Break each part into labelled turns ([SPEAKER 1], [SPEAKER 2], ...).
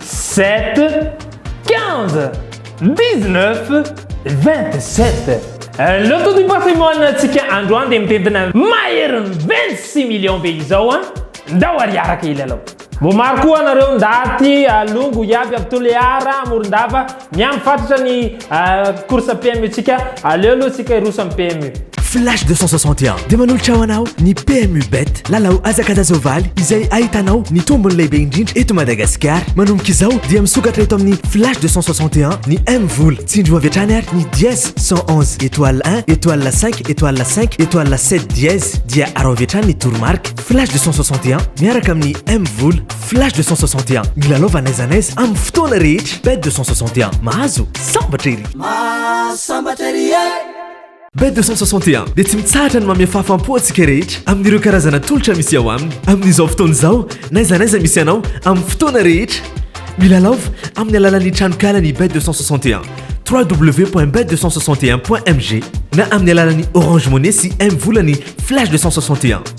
[SPEAKER 1] Sept, quinze, dix-neuf, vingt-sept. Eh, le taux du patrimoine antsika androany dia mitentina maherin'ny vingt-six millions be izao an! Ah. Ndao ary araka ilalao. Voamaro koa nareo ndaty alongo iaby aby Toliara, Morondava, Miandry fatratra ny course PMU tsika, aleo aloha tsika hiroso am PMU. Flash 261
[SPEAKER 2] dia manolotra ho anao ny PMU Bet, lalao hazakazazao-valy izay ahitanao ny tombony lehibe indrindra eto Madagasikara. Manomboka izao dia misokatra eto amin'ny Flash 261 ny M-vola. Tsindrio avy hatrany ary ny dièse 111 étoile 1 étoile 5 étoile 5 étoile 7 dièse dia araho avy hatrany ny toromarika. Flash 261 miaraka amin'ny M-vola. Flash 261, milalaova n'aiza n'aiza amin'ny fotoana rehetra. Bet 261, mahazo sambatra ery. Mahazo sambatra ery e! Bet 261 dia tsy mitsahatra ny mamehy fahafaham-po antsika rehetra amin'ireo karazana tolotra misy ao aminy. Amin'izao fotoana izao, n'aiza n'aiza misy anao, amin'ny fotoana rehetra. Milalaova amin'ny alalan'ny tranonkalan'i Bet 261, www.bet 261.mg, na amin'ny alalan'ny Orange Money sy M-vola ny Flash 261.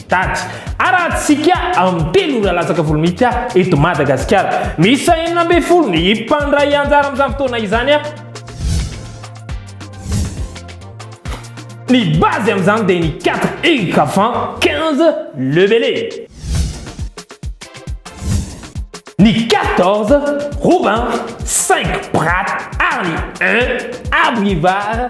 [SPEAKER 1] Daty. Arahantsika amin'ny telo ora latsaka folo minitra eto Madagasikara. Miisa enina ambin'ny folo ny mpandray anjara amin'izany fotoana izany. Ny base amin'izany dia ny 4 heures avant 15 le bele. Ny 14 Robin, 5 Prat ary 1 Abrivard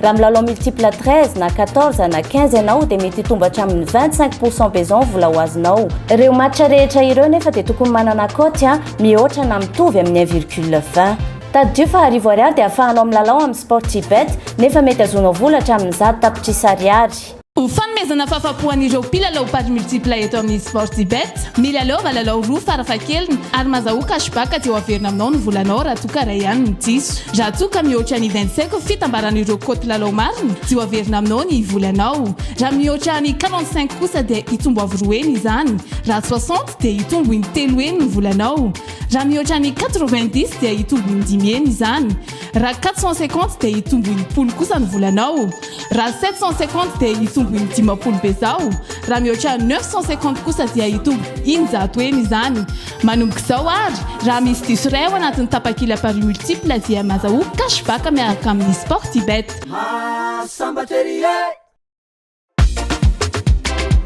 [SPEAKER 3] Raha milalao multiple 13 na 14 na 15 ianao dia mety hitombo hatramin'ny 25 pourcent beson vola ho azonao. Ireo match rehetra ireo nefa dia tokony manana cote a mihoatra na mitovy amin'ny 1 virgule 20. Tadidio fa arivo ariary dia afahanao milalao amin'ny Sportybet nefa mety azonao vola hatramin'ny zato tapitrisa ariary. Ho fanomezana
[SPEAKER 4] fahafapo an'ireo mpilalao paris multiple eto amin'ny Sportybet, milalaova lalao roa farafahakeliny ary mazahoa cash back aty ho averina aminao ny volanao raha toa ka iray ihany no diso. Raha toa ka mihoatra ny vingt cinq fitambaran'ireo cote lalao marina dia ho averina aminao ny volanao. Raha mihoatra ny quarante cinq kosa dia hitombo avo roa heny izany. Raha soixante dia hitombo in-telo heny ny volanao. Raha mihoatra ny quatre vingt dix dia hitombo in-dimy heny izany. Raha 450 dia hitombo enimpolo kosa ny volanao. Raha 750 dia hitombo indimapolo bezao. Raha mihoatra 950 kosa dia hitombo injato heny izany. Manomboka izao ary, raha misy diso iray ao anatin'ny tapakila paris multiple dia mazahoa cash back miaraka amin'ny Sportybet. Mahasambatra ery e!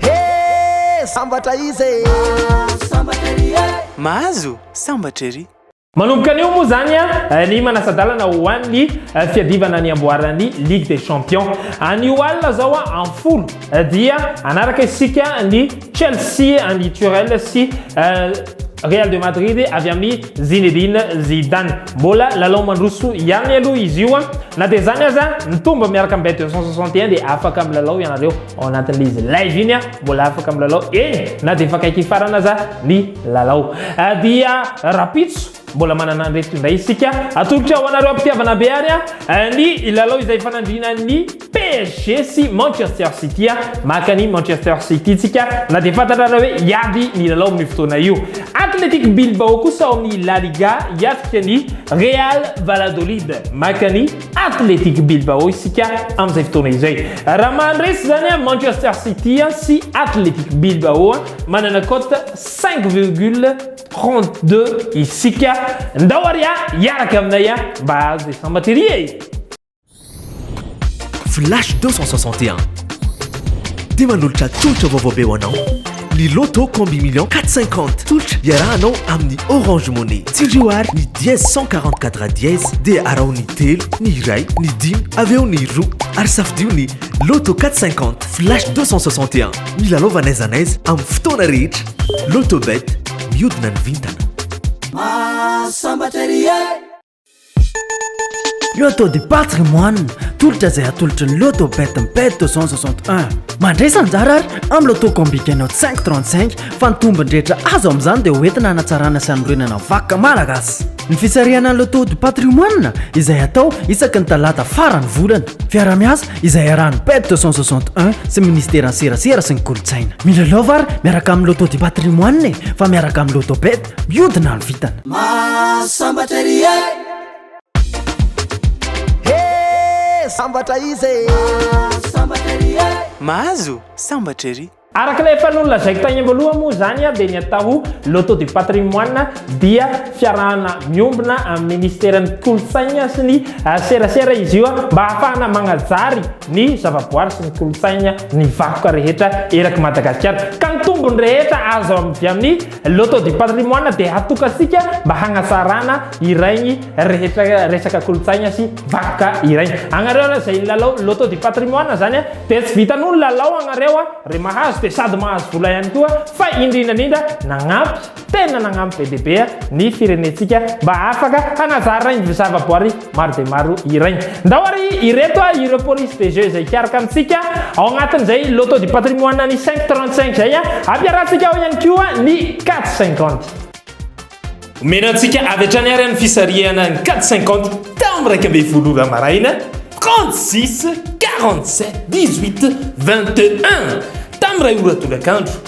[SPEAKER 5] Hee sambatra izy e! Mahazo sambatra ery e!
[SPEAKER 6] Mahazo sambatra ery! Manomboka anio moa
[SPEAKER 1] izany ny manasa-dalana ho an'ny fiadivana ny amboaran'ny Ligue des Champions. Anio alina izao amin'ny folo dia hanaraka isika ny. Chelsea an'i Tuchel sy Real de Madrid avy amin'i Zinedine Zidane. Mbola lalao mandroso ihany aloha izy io. Na dia izany aza, mitombo miaraka amin'ny Bet 261 dia afaka milalao ianareo ao anatin'izy live iny. Mbola afaka milalao eny na dia efa akaiky hifarana aza ny lalao. Dia rapitso Mbola manana an'ireto indray isika. Atolotra ho anareo am-pitiavana be ary ny lalao izay ifanandrinan'ny PSG sy Manchester City. Maka an'i Manchester City isika na dia fantatrareo hoe hiady ny lalao amin'io fotoana io. Athletic Bilbao kosa ao amin'ny La Liga hiatrika ny Real Valladolid. Maka an'i Athletic Bilbao isika amin'izay fotoana izay. Raha maha-resy izany Manchester City sy Athletic Bilbao, manana cote cinq virgule. 32 isika ndao ary a hiaraka aminay a mba hahazo des sambateria e
[SPEAKER 2] flash 261 dia manolotra tolotra vaovao be ho anao ny loto combi million 450 tolotra iarahanao amin'ny orange monnaie tsindrio ary ny dièse 144 dièse dia araho ny telo ny iray ny dimy avy eo ny roa ary safidio ny loto 450 flash 261 milalaova n'aiza n'aiza amin'ny fotoana rehetra Lotobet, miodina ny vintana. Mahasambatra ery e!
[SPEAKER 7] Lotto de Paty ry moanina, tolotra izay atolotry ny Lotto Bet Mped 261. Mandresy anjara ary amin'ny Lotto Combi Gagnant 535 fa ny tombony rehetra azo amin'izany dia hoentina hanatsarana sy hanorenana ny vakoka malagasy. Ny fisarihana ny Lotto du Patrimoine izay atao isaky ny talata faran'ny volana. Fiaraha-miasa izay iarahan'ny PED 261 sy ny Ministeran'ny Serasera sy ny Kolontsaina. Milalaova ary miaraka amin'ny Loto du Patrimoine e, fa miaraka amin'ny Loto Bet, mihodina ny vintana. Mahasambatra ery e!
[SPEAKER 5] He! Sambatra izy e! Mahasambatra ery e!
[SPEAKER 6] Mahazo sambatra ery! Araka ilay efa nolazaiko
[SPEAKER 1] tany am-boalohany moa izany dia ny atao Loto du patrimoine dia fiarahana miombona amin'ny Minisiteran'ny Kolontsaina sy ny serasera izy io mba hahafahana magnajary ny zavaboary sy ny kolontsaina ny vakoka rehetra erak'i Madagasikara ka ny tombony rehetra azo avy amin'ny Loto du patrimoine dia hatokantsika mba hagnasarana iraigny rehetra resaka kolontsaigna sy vakoka iraigny. Agnareo aloha izay nilalao loto du patrimoine zany a, dia tsy vitan'olo nilalao agnareo a, re mahazo dia sady mahazo vola ihany koa, fa indrindra indrindra nagnampy, tena nagnampy be dia be ny firenentsika mba afaka hagnazaraigny zavaboary Maro dia maro iray. Ndao ary ireto a, ireo polices des jeux izay hikaroka amintsika ao anatin'izay Loto du patrimoine ny 5 trente cinq izay a. Ampiarahantsika ao ihany koa ny quatre cinquante. Omena antsika avy hatrany ary ny fisarihana ny quatre cinquante tao amin'ny iraika ambin'ny folo ora maraina, trente six, quarante sept, dix huit, vingt et un, tamin'ny iray ora tolakandro.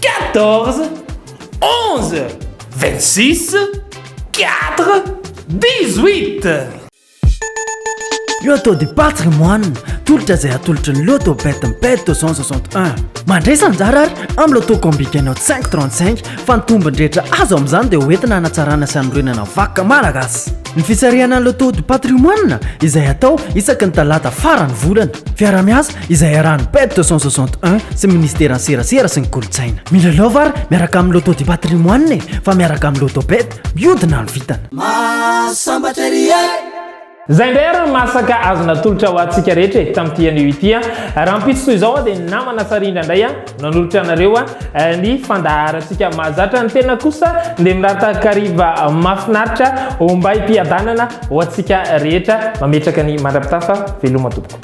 [SPEAKER 1] quatorze, onze, vingt six, quatre, dix huit. Io atao de
[SPEAKER 7] paty ry moine, tolotra izay atolotry ny loto bet mped 261. Mandray sa anjara ary amin'ny loto combi gagnant 535 fa ny tombony rehetra azo amin'izany dia hoentina hanatsarana sy hanorenana vakoka malagasy. Ny fisarihana ny loto du patrimoine izay atao isaky ny talata faran'ny volana. Fiaraha-miasa. izay arahan'ny PEP 261 sy ny Ministeran'ny Serasera sy ny Kolontsaina. Mila love ary miaraka amin'ny Loto du Patrimoine e, fa miaraka amin'ny Loto Bet, miodina ny vintana. Mahasambatra
[SPEAKER 5] ery e! Zay ndray
[SPEAKER 1] ary ny masaka azo natolotra ho antsika rehetra e, tamin'ity anio ity a! Rahampitso toy izao aho dia namana Sarindra indray a, no hanolotra anareo a, ny fandaharantsika mahazatra ny tena kosa dia mirary takariva mahafinaritra ombay-piadanana ho antsika rehetra, mametraka ny mandra-pitafa, veloma tompoko.